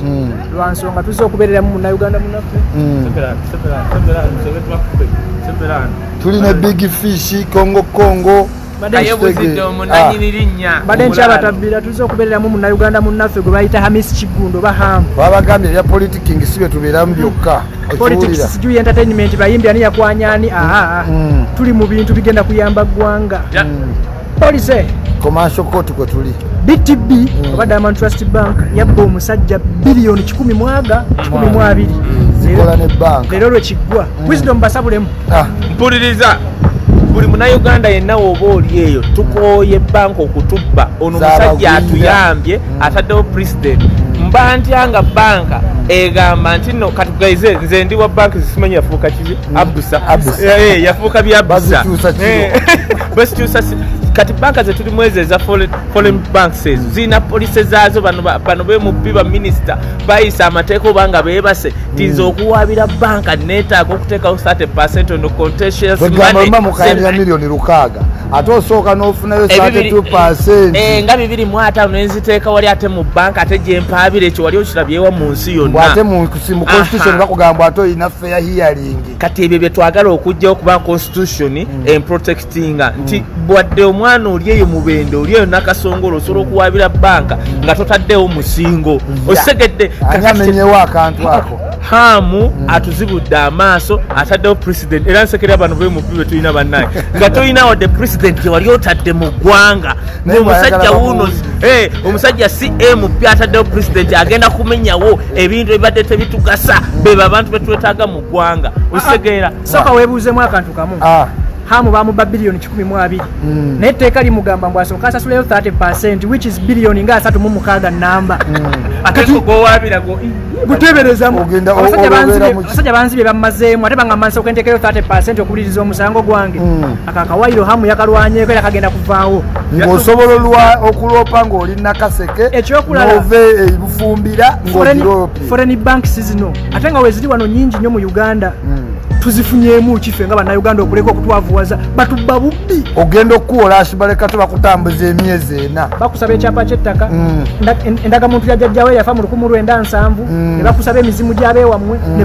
hmm. lwa nsonga tuzze okubeereramu munauganda munaffe hmm. tuli ne big fish kongo kongo mbadde nkyabatabbira tuzze okubeereramu munauganda munaffe gwe bayita hamis kigundo oba hamu babagambye ebya politiking si bye tubeeramu byokka politics sijui entertainment bayimbi ani yakwanyani aha mm. tuli mu bintu bigenda kuyamba ggwanga mm. police commercial court kwe tuli btb mm. oba diamond trust bank yabba omusajja biliyoni kikumi mwaga kikumi mu abiri mm. leero lwekiggwa mm. wisdom basabulemu ah. mpuliriza buli munauganda yenna woba oli eyo tukooye banka okutubba ono omusajja atuyambye ataddewo president mba ntya nga banka egamba nti no katugaize nze ndi wa banka zisimanyi yafuuka kizi abusa eh, eh, yafuuka byabusa bwezikyusa kati banka zetulimu ezo eza foreign banks ezo mm. zirina polise zaazo bano bemubbi baminisita bayisa amateeka oba nga bebase tinza mm. okuwaabira banka netaaga okuteekawo 30 percent ono contentiousmba mukayalira miliyoni lukaaga ate osooka nofunayo 32 percent eh, nga bibiri mu ataano nenziteeka wali ate mu banka ate gyempaabira ekyo wali okirabyewa mu nsi yonna ate mu constitution bakugamba ate olina feya hiyaringi kati ebyo byetwagala okujjawo kuba constitution mm. emprotectinga mm. nti bwadde omwana oli eyo mubende oli eyo nakasongolo osobola mm. okuwabira banka mm. nga totaddewo musingo yeah. osegedde amenyewo akantu ako hamu mm. atuzibudde amaaso ataddewo president era nsekera bano bemubi betulina bannaye nga tolina wadde president gyewali otadde mu ggwanga omusajja wuno eh, omusajja cmp ataddewo president agenda kumenyawo ebintu ebibadde tebitugasa bebo abantu betwetaga mu gwanga ositegeera ah, ah. soka webuuzemu akantu kamu ah. hamu bamuba biliyoni kikumi mu abiri hmm. naye etteeka limugamba mbu asooka asasuleyo 30 percent which is biliyoni nga asatu mu mukaaga namba guteberezamuabasajja banzi bye bamazeemu ate bangamba nsooka entekeyo 30 percent okuwuliriza omusango gwange hmm. akakawayiro hamu yakalwanyeko era kagenda kuvaawo ng'osobola okuloopa ng'oli nakaseke ekyokulala ove ebufumbira ng'ogiropa foreign banks zino ate nga weziri wano nyingi nnyo mu uganda hmm. tuzifunyemu kife nga banauganda okuleka okutwavuwaza batubba bubbi ogenda okukuwola asibaleka tebakutambuza emyezi ena bakusaba ekyapa kyettaka hmm. endagamuntu yajajjawo eyafa mu lukumu lwenda nsanvu hmm. ne bakusaba emizimu gyabeewammwe ne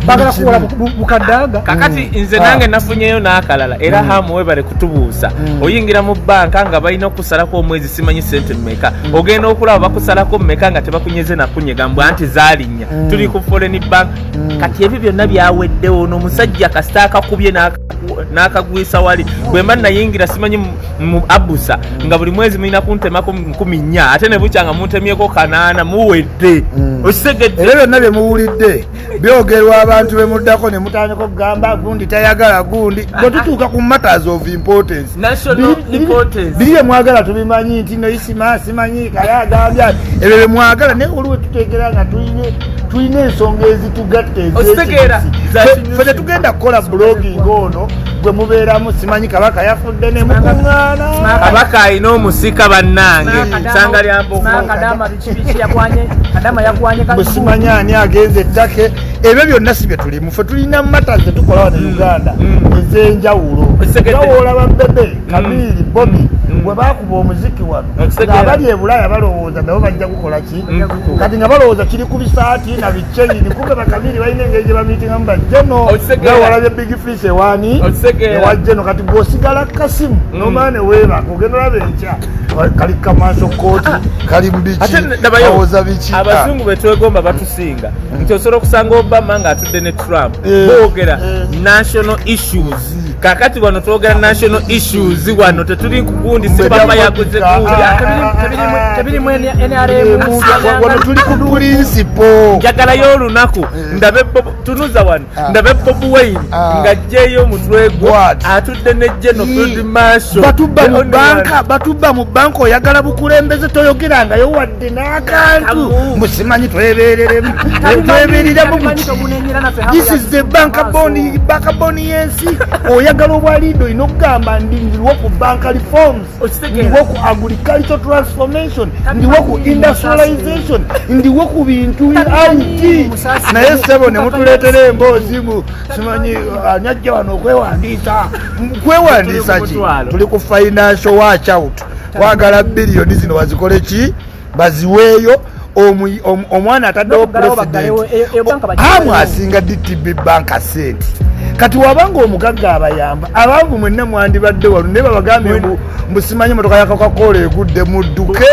bagala kuwola bukadaaga kakati mm. nze nange ah. nafunyeyo n'akalala era mm. hamu webale kutubuusa mm. oyingira mu banka nga balina okusalako omwezi simanyi sente mumeka mm. ogenda okulaba bakusalako mumeka nga tebakunyeze nakunyega mbu anti zalinya mm. tuli ku foreign bank mm. kati ebyo byonna byaweddewo nomusajja kasita akakubye nakagwisa wali bwemba nayingira simanyi mu abusa nga buli mwezi mulina kuntemako nkumi nnya ate nebukyanga muntemyeko kanaana muwedde okitegedde ebyo byonna byemuwulidde byogerwa abantu bemuddako nemutandika okugamba gundi tayagala gundi bwetutuuka ku matters of importance biri byemwagala tubimanyi nti noisima simanyi kale agambya ebyo byemwagala naye waliwo tutegera nga tulina ensonga ezitugatta ezefe tetugenda kukola blogging ono gwe mubeeramu simanyi kabaka yafudde nemukuŋaana kabaka alina omusika bannange sanga lyambo simanya ani agenze ettake ebyo byonna si byetulimu fe tulina mata zetukolawa ne mm. uganda mm. ezenjawulo bawola babebe mm. kamiiri bobi bwe bakuba omuziki wano ngaabali ebulaaya balowooza nabo bajja kukola ki kati nga balowooza kiri ku bisaati na biceini kumbe bakamiiri balina engeri gye bamiitingamu bajeno bawalabye big fish ewani ewajeno kati gwosigala kasimu nomane webaka ogenda olaba enkya kali kamanso kooti ah, ah. kali mubikiawoza biki ah. abazungu betwegomba batusinga hmm. nti osobola okusanga obama nga atudde ne trump eh, boogera eh. national issues kakati wano twogera national issues wano tetuli kugundi sibama yaguze tuli ku pulinsipo njagalayo olunaku eh. ndabe tunuza wano Ah. ndabe bob wine ah. nga jeyo omutwe gwo atudde ne geno field marshal batubba mu banka batubba mu banka oyagala bukulembeze toyogerangayo wadde n'akantu musimanyi twebereremu twebereremu this is the banka boni banka boni yensi oyagala obwaliido olina okugamba ndindirwo ku banka reforms ndiwo ku agriculture transformation ndiwo ku industrialization ndiwo ku bintu it naye sebo ne mutuleetera emboozi mu simanyi ani ajja wano okwewandiisa kwewandiisa ki tuli ku financial watch out wagala biliyoni zino wazikole ki baziweeyo omwana ataddewo presidentiamu asinga dtb banka sente kati wabanga omugagga abayamba abanvu mwenna mwandibadde walu naye babagambye mbu mbusimanyi motoka yakakakoola egudde mudduke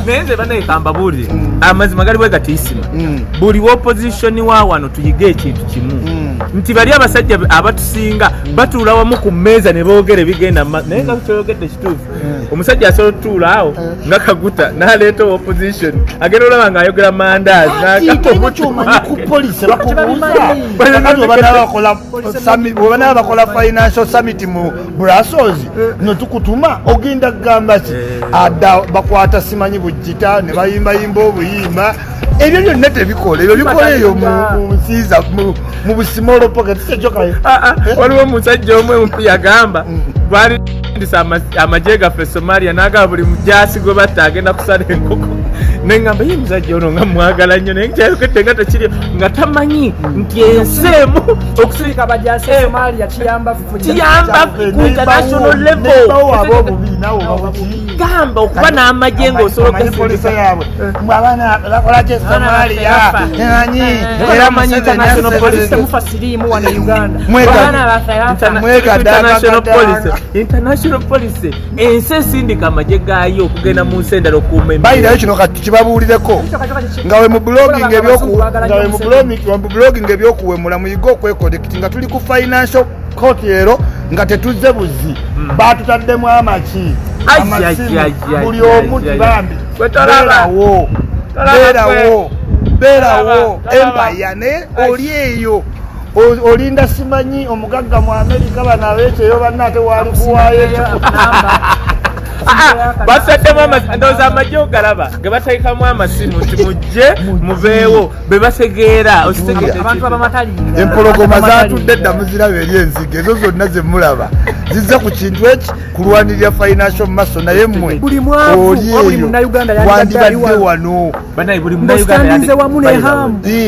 naye nze banayekamba buulire mm. amazima gali bwegatiyisima mm. buli wopozisioni wa wano tuyige ekintu kimu mm. nti bali abasajja abatusinga batuula wamu ku mmeeza ne boogera ebigenda naye nga kyoyogedde kituufu Eh. omusajja asobola otutuula awo eh. nga kaguta naleeta opposition agenda olaba nga ayogera mandaziwebanaba bakola financial summit mu brussels eh. notukutuma ogenda kugamba ki ada bakwata simanyi bujita nebayimbayimba obuyimba ebyo byonna tebikola ebyo bikola eyo munsiiza mu busimolopoka tisekyokayo ah, ah, eh? waliwo omusajja omu emupu yagamba mm. gwali ndisa amagye gaffe somalia nagaba buli mujasi gwe batta agenda kusala enkoko nengamba ye musajja ono nga mwagala nnyo naye kyayogedde nga tekiri nga tamanyi nti ensi emu okusirika bajasi eh. somalia kiyamba kiyamba ku international level gamba okuba n'amagye ng'osolokesa yabwe abaana bakolaki esomaliya anyi era manyi international police temufa siriimu wano e uganda international police international police ensi esindika amagye gaayo okugenda mu nsi endala okuuma bayirayo kino kati kibabuulireko nga we mu blogging ebyokuwemula muyige okwekoleka nga tuli ku financial court ero nga tetuzze buzzi hmm. batutaddemu amaki amasimu buli omu tibambi berawo berawo berawo empaya naye oli eyo olinda simanyi omugagga mu amerika bano abekyeyo banna ate wali kuwayo basaddemu amasi ndowooza amagye ogalaba ge bateekamu amasimu nti mujje mubeewo bebategeera empologoma zatudde dda muziraba eri enzige ezo zonna zemulaba zizza ku kintu eki kulwanirira financial maso naye mwe oli eyo wandibadde wano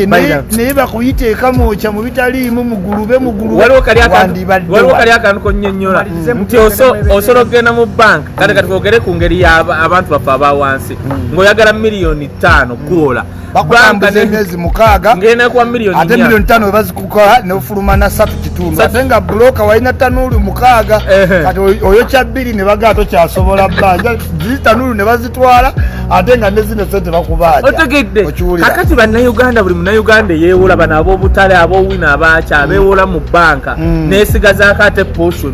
naye bakuyita ekamokya mu bitaliimu mugulube mugulubewaliwo kali akantu konyonyola nti osobola okugenda mu bank kati kati kogere ku ngeri yabantu baffe abawansi hmm. ngaoyagala miliyoni ttaano kwola bakutambuza emyezi mukaaga ate miliyoni tano webazikukola nefuluma na satu kitundu ate nga buloka walina tanuulu mukaaga kati oyo kya bbiri ne bagaa tokyasobola bbanja ziri tanuulu ne bazitwala ate nga nezino sente bakubaaja otegedde akati bannayuganda buli munayuganda eyewola bano abobutale abowina abakya bewola mu banka mm. nesigazaako ate potion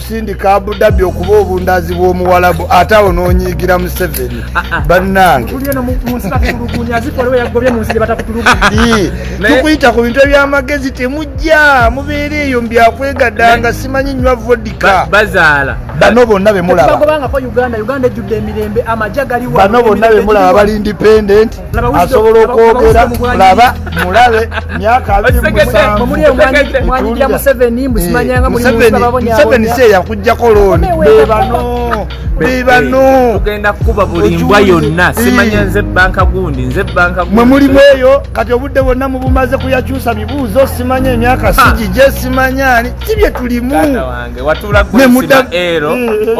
sindika abudabi okuba obundazi bwomuwalabu ate awo nonyiigira museveni ah, ah. banange tukuyita ku bintu ebyamagezi temujja mubeera eyo mbyakwegadanga simanyi nywa vodika bazaala bano bonna bemulababano bonna bemulaba bali independent asobola okwogera laba mulabe myaka abirimuseveni si eyakujjako looni bebano bebanotugenda kukuba buli mbwa yonna simanya nze banka gundi nze banka mwe muli bweyo kati obudde bwonna mubumaze kuyakyusa bibuuzo simanya emyaka sigije simanyani si bye tulimu wange watula gwe sima ero eh, eh, eh.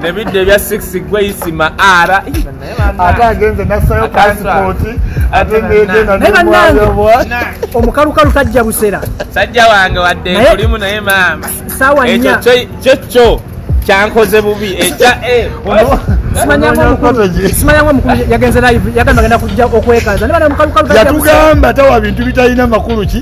nebidde ebya six gweyisima ara ate agenze nasayo pasipoti ate negenanebwa omukalukalu tajja busera sajja wange wadde kulimu naye maama sawa nya kyo kyo kyankoze bubi ekya e yatugamba tawa bintu bitalina makulu ki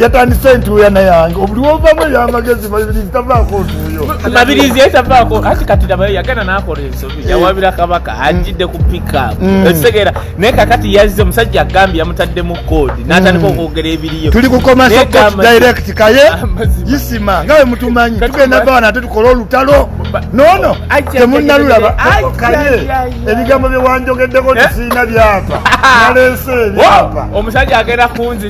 yatandise ntuuyana yange obuliwovamu eyamagezi mabirizi tavaako ntuuyo mabirizi ye tavaako anti kati nabayo yagenda nakola ensobi eh. yawabira kabaka mm. ajjidde ku pickup mm. ekitegeera naye kakati yazze omusajja agambye yamutaddemu koodi mm. natandika okwogera ebiriyo tuli kukomadirect kaye isima nga we mutumanyi tugenda bawa nate tukole olutalo nono temunalulaba kaye ebigambo byewanjogeddeko eh? tisiina byapa naleese ebyapa omusajja agenda kunzi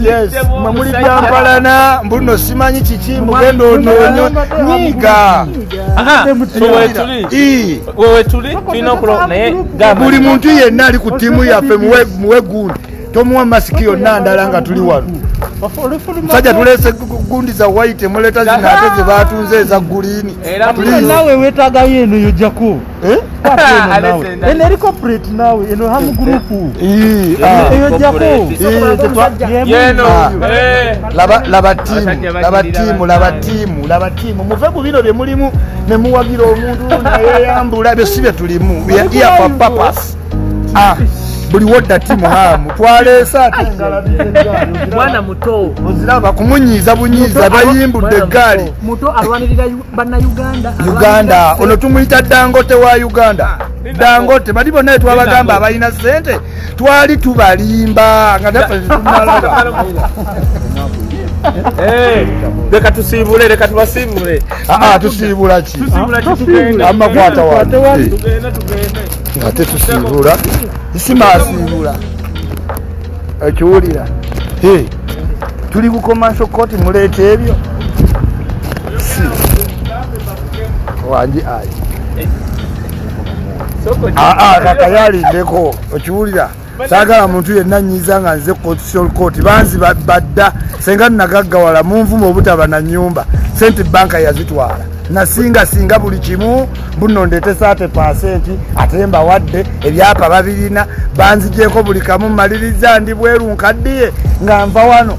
Yes, mamuli byampalana mbuno simanyi kiki mugenda onoonyo nyiga buli muntu yenna ali ku ttiimu yaffe muwe gundi tomuwa masiki yonna ndala nga tuli wano sajja tulese gundi za white muleta zinaate zebatunze eza guliini nawe wetagayo eno yojako Eh? eno eriko pret nawe eno hamu gurupu eyojjakolabatimu muve ku bino bye mulimu ne muwagira omuntu nayeyambula ebyo si bye tulimu eapapas ah, buli wodda timu hamu twaleese ate mwana muto oziraba kumunyiiza bunyiiza bayimbudde eggaali uganda ono tumuyita dangote wa uganda dangote bali bonna etwabagamba abalina sente twali tubalimba nga tafetumalaba eh, leka tusiibule leka tubasiibule ah, ah, tusiibula ki amakwata wate ate tusiibula simasiibula ekiwulira tuli bukomanso koti muleeta ebyo wangi ayi kakayalindeko okiwulira sagala muntu yenna nyiza nga nze constitutional court banzi badda senga nagaggawala munvuma obutaba na nyumba sente banka yazitwala nasinga singa buli kimu buno ndetesa ate pasenti ate mbawadde ebyapa babirina banzigyeko buli kamu maliriza ndi bweru nkaddiye nga nva wano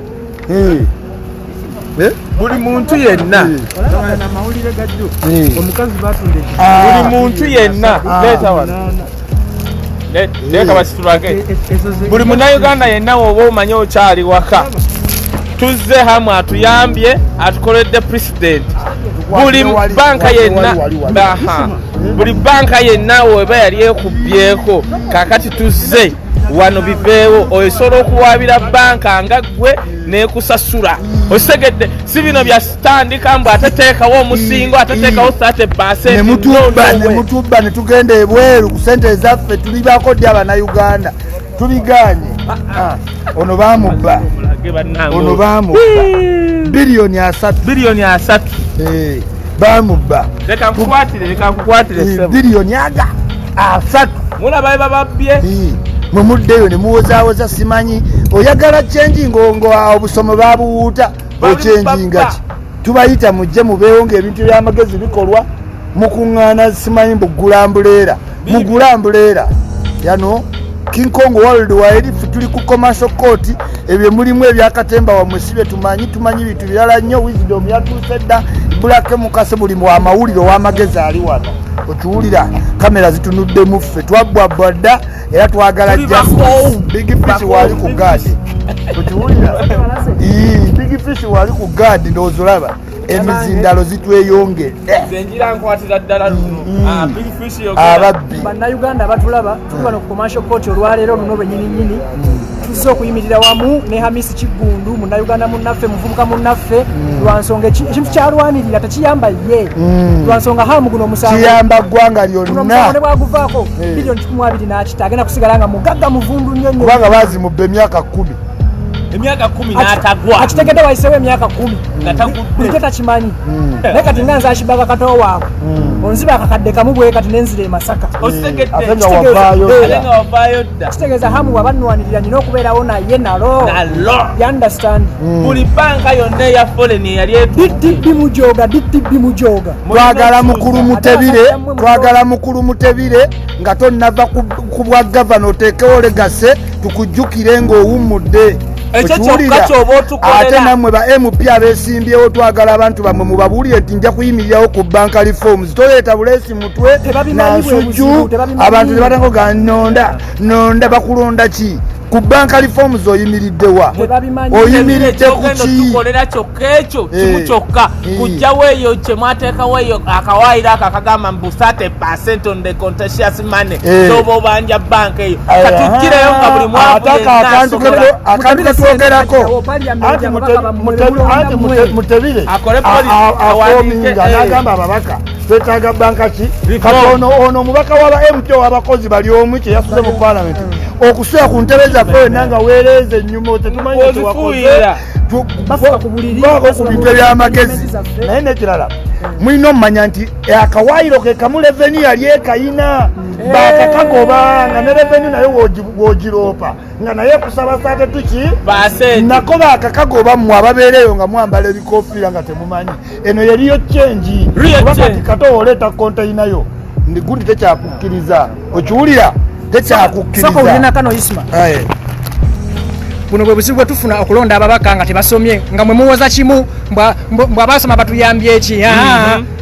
Eh. Eh? buli muntu yenna eh. ah. buli muntu yenna ah. leeta wano lekabasitulage buli munauganda yenna woba omanye okyali waka tuzze hamu atuyambye atukoledde president buli banka yenna buli banka yenna weba yali ekubyeko kakati tuzze wano biveewo osobola okuwaabira banka nga ggwe nekusasula okitegedde si bino byatandika mbu ateteekawo omusingo ateteekawo mm. sate basenemutubba netugenda ebweru ku sente ezaffe tulibako ddi abanauganda tubiganye ah, ah. ono bamubba ono bamubba biliyoni asatu biliyoni asatu eh, bamubba leka nkukwatire leka nkukwatire eh, biliyoni aga asatu mulaba bye bababbye mwe muddeyo ne muwozaawoza simanyi oyagala kyenji ngongo obusomo babuwuuta okyenjinga ki tubayita mujje mubeewo ngaebintu byamagezi bikolwa mukuŋŋaana simanyi mbugula mbuleera mugula mbuleera yano king kong world wide fe tuli ku commercial court ebyo mulimu ebyakatemba wamwe si byetumanyi tumanyi bintu birala nnyo wisdom yatuuse dda bulake mukase buli mu amawulire ow'amagezi ali wano okiwulira kamera zitunudde muffe twabbwabbwa dda era twagala jbigfish waali ku gaadi okiwulira bigfish waali ku gaadi ndowozolaba emizindalo zitweyongedde ababbi bannayuganda abatulaba tuli bano ku commercial court olwaleero luno lwenyininyini mm. tuzze okuyimirira wamu ne hamisi kiggundu munnayuganda munnaffe muvubuka munnaffe mm. lwansonga ekintu kyalwanirira tekiyamba ye mm. lwansonga hamu guno omusangokiyamba ggwanga lyonnaone bwaguvaako eh. bilioni kikumi abiri n'akita agenda kusigala nga mugagga muvundu nnyo nnyo kubanga baazimubba emyaka kkumi emyaka kumi natagwa akitegede wayisewo emyaka kumi bulijjo takimanyi hmm. naye kati nga nzakibaka katowa waako hmm. onziba akakadde kamu bwe kati nenzira emasaka hmm. kitegeeza hamu wabanwanirira nina okubeerawo naye nalo yundestand hmm. buli banka yonna eya folen eyali ddb mujoga ddb mujoga twagala mukulu mutebire twagala mukulu mutebire nga tonnava ku bwa gavana oteekewo legase tukujjukire ng'owummudde ate namwe ba mp abesimbyewo twagala abantu bamwe mubabuulire nti nja kuyimirirawo ku banka reforms toleeta bulesi mutwe nansujju abantu tebatango ga nonda nonda bakulonda ki ku banka reforms oyimiridde wa oyimiridde kukitukolera kyokka ekyo eh. kimu kyokka eh. kujjawo eyo kyemwateekawo eyo akawaayiro ako akagamba mu busate percent on the contentious money eh. zoba obanja banka eyo katukireyo nga buli mwaakantu ketwogerako anti mutebire akominga nagamba ababaka twetaaga banka ki kati ono ono omubaka waba mto wabakozi bali omu kyeyasuze mu palamenti mm. okusula ku ntebe zaffe wena nga wereeza enyuma tetumanyi kyewakozeako ku bintu ebyamagezi naye nekirala mulina omumanya nti akawaayiro ke kamu reveni yali ekayina mm. bakakagoba nga ne reveni naye wogiroopa nga naye kusaba sate tuki nako bakakago bammwe ababeereyo nga mwambala ebikofiira nga temumanyi eno yeriyo kyengi kubakati kata oleeta konteyinayo ndigundi tekyakukkiriza okiwulira tekyakukkiriza buno bwe buzibu bwe tufuna okulonda ababaka nga tebasomye nga mwe muwoza kimu mbwabasoma batuyambye eki mm-hmm.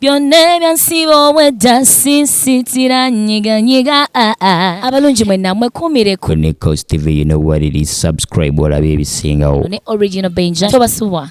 byonna ebyansiba obwedda sisitira nyiganyiga ah, ah. abalungi mwe namwe kumireko ne cost tv you know what it is subscribe olabe ebisingawo ne original benja tobasubwa